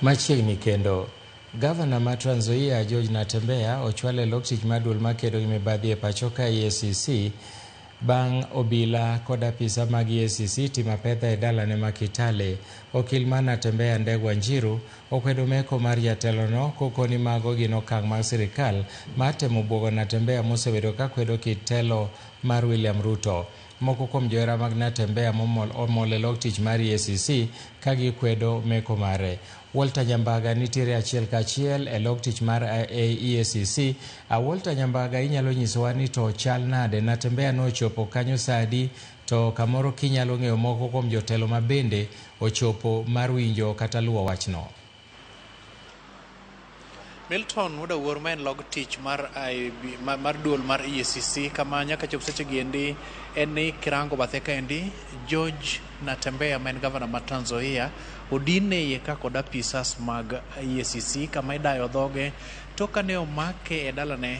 Machiegni kendo, Gavana ma Trans Nzoia George Natembeya ochwal e lop tich mar duol makedo gi mibadhi e pacho ka EACC bang' obila kod apisa mag EACC timo apedha e dalane ma Kitale. Okil mar Natembeya Ndegwa Njiru okwedo meko mar jatelono kopo ni mago gin okang' mag sirkal mar temo buogo Natembeya mosebedo ka kwedo kit telo mar William Ruto. Moko kuom johera mag Natembeya momol omol e log tich mar EACC ka gikwedo meko mare. Walter Nyambaga nitiere achiel ka achiel e log tich mar EACC. A Walter Nyambaga inyalo nyisowa ni to chal nade, Natembeya nochopo kanyo saa adi to kamoro kinyalo ng'eyo moko kuom jotelo mabende ochopo mar winjo kata luwo wachno. Milton Wuda Wuor ma en log tich mar IB, ma- mar duol mar EACC kama nyaka chop seche gi endi en ni kirango bathe ka endi George Natembeya ma en gavana ma Trans Nzoia odine iye ka kod apisas mag EACC kama idayo dhoge to kane omake e dalane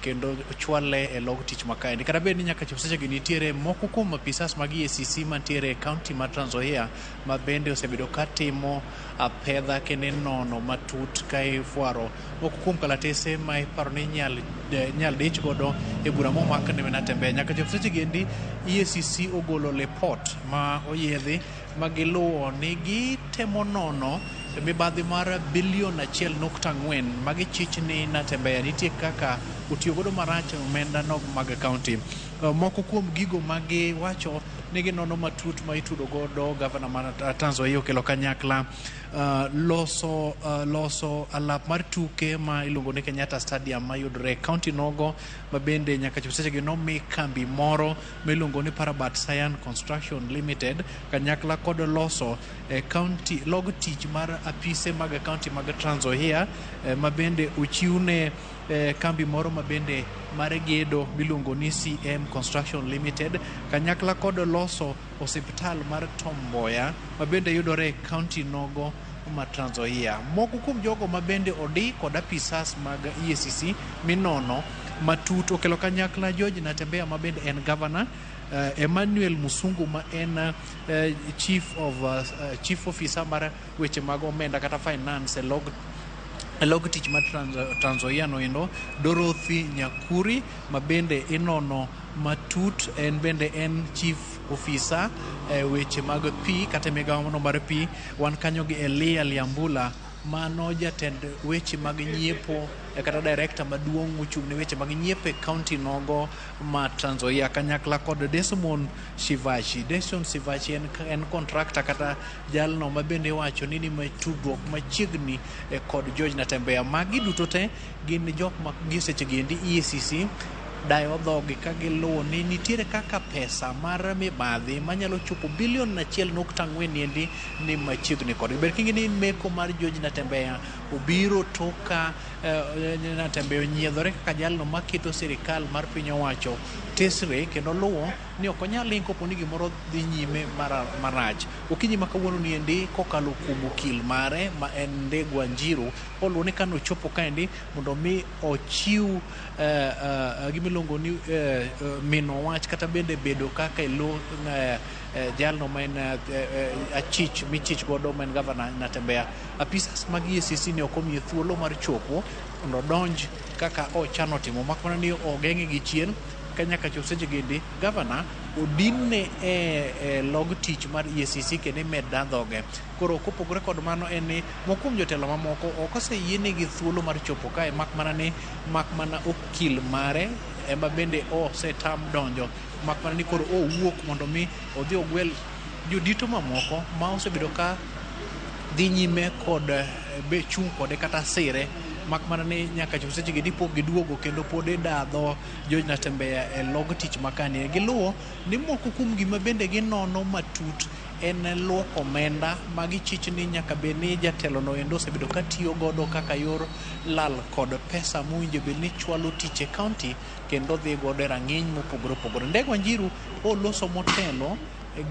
kendo ochwale e log tich makaendi kata bed ni nyaka chop sechegi nitiere moko kuom apisas mag EACC mantiere e kaunti ma Trans Nzoia ma bende osebedo ka timo apedha kendo inono matut ka ifwaro moko kuom kalatese ma iparo ni inyal de- inyal dich godo e bura momak ne Natembeya nyaka chop sechegi endi EACC ogolo lipot ma oyiedhi ma giluwo ni gitemo nono mibadhi mar bilion achiel nukta ang'wen ma gichich ni Natembeya nitie kaka otiyo godo marach omenda nog mag kaunti. Eh, Moko kuom gigo ma giwacho ni ginono matut ma itudo godo gavana mar Ta- Trans Nzoia okelo kanyakla eh, loso eh, loso alap mar tuke ma iluongo ni Kenyatta Stadium mayudore e kaunti nogo ma bende nyaka chop sechegi nomi kambi moro miluongo ni Parabat Sayan Construction Limited kanyakla kod loso eh, county log tich mar apise mag county mag Trans Nzoia eh, ma bende ochiwne eh, kambi moro ma bende mar gedo miluongo ni CM Construction Limited kanyakla kod loso osiptal mar Tom Mboya ma bende yudore e county nogo ma Trans Nzoia. Moko kuom jogo ma bende odi kod apisas mag EACC minono matut okelo kanyakla George Natembeya ma bende en gavana Uh, Emmanuel Musungu ma en uh, chief of uh, uh, chief officer mar weche mag omenda kata finance e log e log tich ma Trans Trans Nzoia no endo Dorothy Nyakuri ma bende inono matut en bende en chief ofisa e weche mag pi kata e migawono mar pi. Wan kanyo gi Elia Liambula mano jatend weche mag nyiepo eh, kata direkta maduong' mochung' ne weche mag nyiepo e kaunti nogo ma Trans Nzoia kanyakla kod Desmond Shivachi. Desmond Shivachi en, en kontrakta kata jalno ma bende iwacho ni ni tudruok machiegni eh, kod George Natembeya. Magi duto te Gin jok ma gi sechegi endi EACC dayo dhogi ka giluwo ni nitiere kaka pesa mar mibadhi manyalo chopo bilion achiel nukta ang'wen endi ni machiegni kodgi. Ber kingi ni meko mar George Natembeya obiro tok ka eh, Natembeya onyiedhore kaka jalno maketo sirikal mar piny owacho tesre kendo luwo ni ok onyal ling kopo ni gimoro dhi nyime mara- marach. Okinyi ma kawuono ni endi kokalo kuom okil mare ma en Ndegwa Njiru Paul one ka nochopo kaendi mondo mi ochiw eh, eh, gimiluongo ni eh, eh, mino wach kata bende bedo kaka ilo eh, eh, jalno ma en eh, eh, achich michich godo ma en gavana Natembeya. Apisas mag EACC ne ok omiye thuolo mar chopo mondo odonj kaka ochano timo mak mana ni ogeng'e gi chien ka nyaka chop seche gindi gavana odinne e, e log tich mar EACC kendo imed dha dhoge Koro kopogore kod mano en ni moko kuom jotelo mamoko ok oseyienegi thuolo mar chopo kae mak mana ni mak mana okil mare ema bende osetam donjo mak mana ni koro owuok mondo mi odhi ogwel jodito mamoko ma osebedo ka dhi nyime kod eh, be chung' kode kata sire mak mana ni nyaka chop sechegi ni pok giduogo kendo pod idadho George Natembeya e log tich makani. Giluwo ni moko kuom gima bende ginono matut en luoko omenda ma gichich ni nyaka bed ni jatelono endo osebedo ka tiyo godo kaka yor lal kod pesa mowinjo bed ni chwalo tich e kaunti kendo dhi godo e rang'iny mopogore opogore. Ndege Wanjiru oloso motelo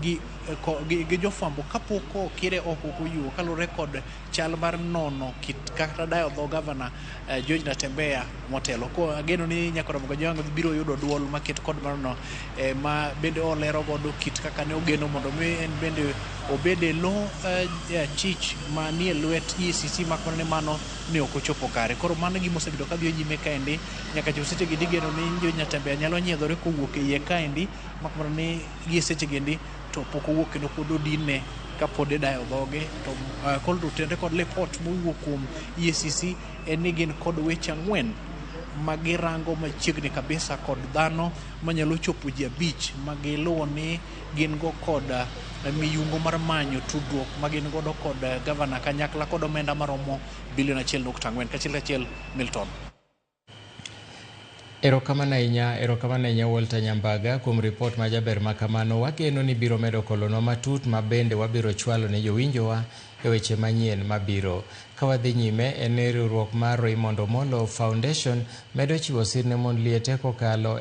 gi, ko- gi, gi jofwambo kapok okire oko koyuo kaluwore kod chal mar nono kit kata dayo dho gavana eh, George Natembeya motelo. Ko ageno ni Nyakora Mugajanga biro yudo duol maket kod marno eh, ma bende olero godo kit kaka ne ogeno mondo mi en bende obed e lo eh, eh, achich ma nie lwet ECC mak mana ni mano ne ok ochopo kare. Koro mano gima osebedo ka dhiyo nyime kaendi nyaka chop seche gi digeno ni George Natembeya nyalo nyiedhore kowuok e iye kaendi mak mana ni Gie sechegi endi to pok owuok kendo pod odinne ka pod idayo dhoge to uh, kol to tenre kod lipot mowuok kuom EACC en ni gin kod weche ang'wen ma girango machiegni kabisa kod dhano manyalo chopo ji abich ma giluwo ni gin go kod uh, miyungo mar manyo tudruok ma gin godo kod uh, gavana kanyakla kod omenda maromo bilion achiel nukta ang'wen kachiel kachiel Milton. Erokamano ahinya, erokamano ahinya Walter Nyambaga kuom ripot ma jaber ma kamano. Wageno ni biro medo kolonwa matut ma bende wabiro chwalo ne jowinjowa e weche manyien mabiro. Ka wadhi nyime, en ni riwruok mar Raymond Omolo Foundation medo chiwo sir ne mond liete kokalo